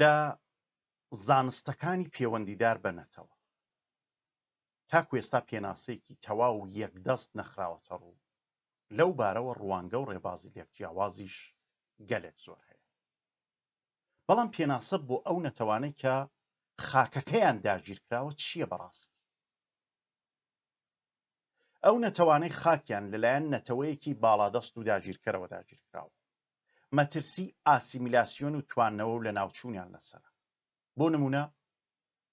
لە زانستەکانی پێوەندیدار بە نەتەوە تاکو ئێستا پێناسەیەکی تەواو و یەکدەست نەخراوەتەڕوو، لەو بارەوە ڕوانگە و ڕێبازی لێکجیاوازیش گەلێک زۆر هەیە. بەڵام پێناسە بۆ ئەو نەتەوانەی کە خاکەکەیان داگیرکراوە چییە بەڕاستی؟ ئەو نەتەوانەی خاکیان لەلایەن نەتەوەیەکی باڵادەست و داگیرکەرەوە داگیرکراوە، مەترسی ئاسیمیلاسیۆن و تواندنەوە و لەناوچوونیان لەسەرە. بۆ نموونە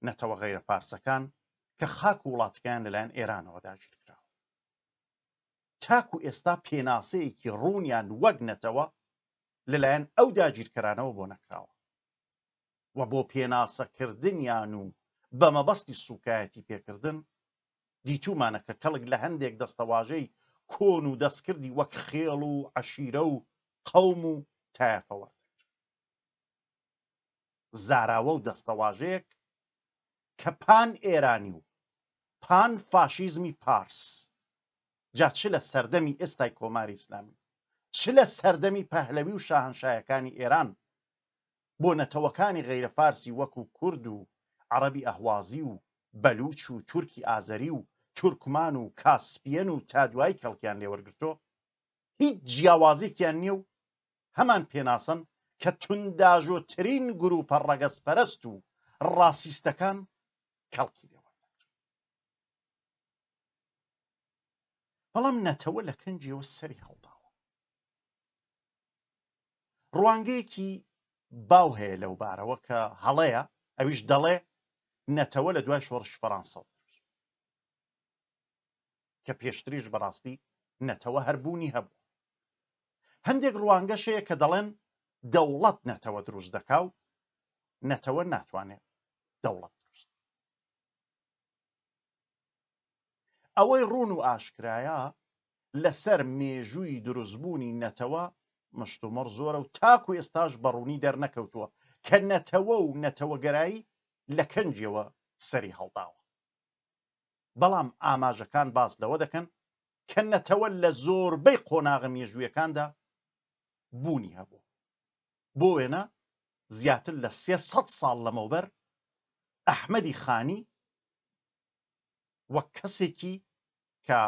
نەتەوە غەیرە فارسەکان کە خاک و وڵاتەکەیان لەلایەن ئێرانەوە داگیر کراوە، تاکوو ئێستا پێناسەیەکی ڕوونیان وەک نەتەوە لەلایەن ئەو داگیرکەرانەوە بۆ نەکراوە و بۆ پێناسەکردنیان و بە مەبەستی سووکایەتی پێکردن دیتوومانە کە کەڵک لە هەندێک دەستەواژەی کۆن و دەستکردی وەک خێڵ و عەشیرە و قەوم و تایەفە وەردەگرن. زاراوە و دەستەواژەیەک کە پان ئێرانی و پان فاشیزمی پارس، جا چ لە سەردەمی ئێستای کۆماری ئیسلامی و چ لە سەردەمی پەهلەوی و شاهەنشایەکانی ئێران بۆ نەتەوەکانی غەیرە فارسی وەکو کورد و عەڕەبی ئەهوازی و بەلووچ و تورکی ئازەری و تورکمان و کاسپیەن و تا دوایی کەڵکیان لێ وەرگرتووە هیچ جیاوازێکیان نیە و هەمان پێناسەن کە تونداژۆترین گرووپە ڕەگەزپەرەست و ڕاسیستەکان کەڵکی لێ وەردەگرن بەڵام نەتەوە لە کەنجیەوە سەری هەڵداوە ڕوانگەیەکی باو هەیە لەو بارەوە کە هەڵەیە ئەویش دەڵێ نەتەوە لە دوای شۆڕشی فەڕانسە کە پێشتریش بەڕاستی نەتەوە هەربوونی هەبوو هەندێک ڕوانگەشەیە کە دەڵێن دەوڵەت نەتەوە دروست دەکا و نەتەوە ناتوانێت دەوڵەت دروست ئەوەی ڕوون و ئاشکرایە لەسەر مێژووی دروستبوونی نەتەوە مشتومڕ زۆرە و تاکو ئێستاش بەڕوونی دەرنەکەوتووە کە نەتەوە و نەتەوەگەرایی لە کەنجیەوە سەری هەڵداوە بەڵام ئاماژەکان باس لەوە دەکەن کە نەتەوە لە زۆربەی قۆناغە مێژوویەکاندا بوونی هەبوو بۆ وێنە زیاتر لە سێسەد ساڵ لەمەوبەر ئەحمەدی خانی وەک کەسێکی کە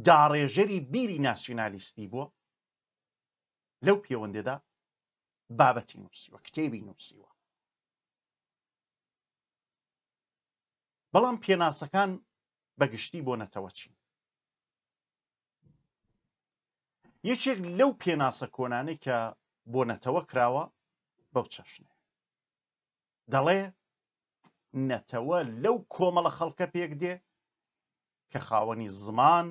داڕێژەری بیری ناسیۆنالیستی بووە لەو پێوەندێدا بابەتی نووسیوە کتێبی نووسیوە بەڵام پێناسەکان بەگشتی بۆ نەتەوە چین یەکێک لەو پێناسە کۆنانەی کە بۆ نەتەوە کراوە بەو چەشنە دەڵێ نەتەوە لەو کۆمەڵە خەڵکە پێک دێ کە خاوەنی زمان،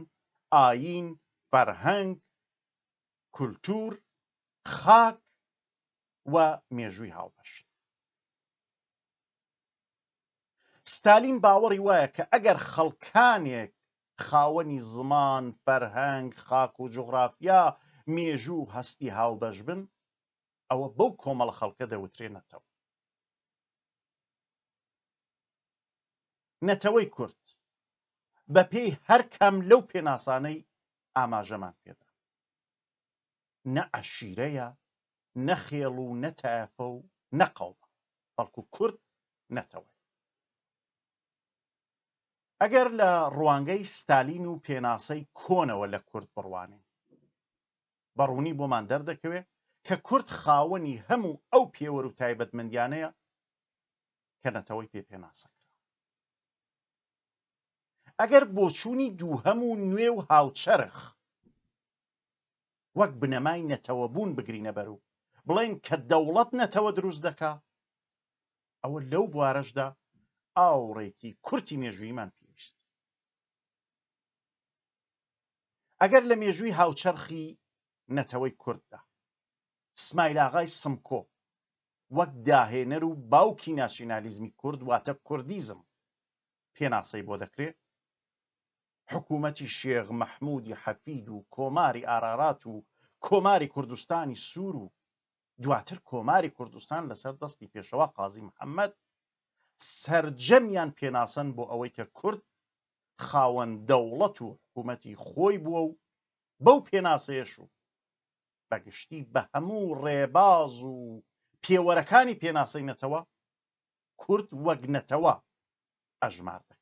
ئایین، فەرهەنگ، کولتوور، خاک و مێژووی هاوبەشن. ستالین باوەڕی وایە کە ئەگەر خەڵکانێک خاوەنی زمان، فەرهەنگ، خاک و جوغرافیا، مێژوو و هەستی هاوبەش بن، ئەوە بەو کۆمەڵە خەڵکە دەوترێ نەتەوە. نەتەوەی کورد بەپێی هەر کام لەو پێناسانەی ئاماژەمان پێدا نە عەشیرەیە نە خێڵ و نە تایەفە و نەقەومە بەڵکو کورد نەتەوە ئەگەر لە ڕوانگەی ستالین و پێناسەی کۆنەوە لە کورد بڕوانین بە ڕوونی بۆمان دەردەکەوێت کە کورد خاوەنی هەموو ئەو پێوەر و تایبەتمەندیانەیە کە نەتەوەی پێ پێناسە ئەگەر بۆچوونی دووهەم و نوێ و هاوچەرخ وەک بنەمای نەتەوە بوون بگرینە بەر و بڵێن کە دەوڵەت نەتەوە دروست دەکا ئەوە لەو بوارەشدا ئاوڕێکی کورتی مێژوویمان پێویست ئەگەر لە مێژووی هاوچەرخی نەتەوەی کورددا سمایلاغای سمکۆ وەک داهێنەر و باوکی ناسیونالیزمی کورد واتە کوردیزم پێناسەی بۆ دەکرێت حکوومەتی شێغ مەحمودی حەفید و کۆماری ئارارات و کۆماری کوردستانی سوور و دواتر کۆماری کوردستان لەسەر دەستی پێشەوە قازی محەممەد سرجەمیان پێناسەن بۆ ئەوەی کە کورد خاوەن دەوڵەت و حکوومەتی خۆی بووە و بەو پێناسەیەش و بەگشتی بە هەموو ڕێباز و پێوەرەکانی پێناسەی نەتەوە کورد وەک نەتەوە ئەژمار دەکرێت.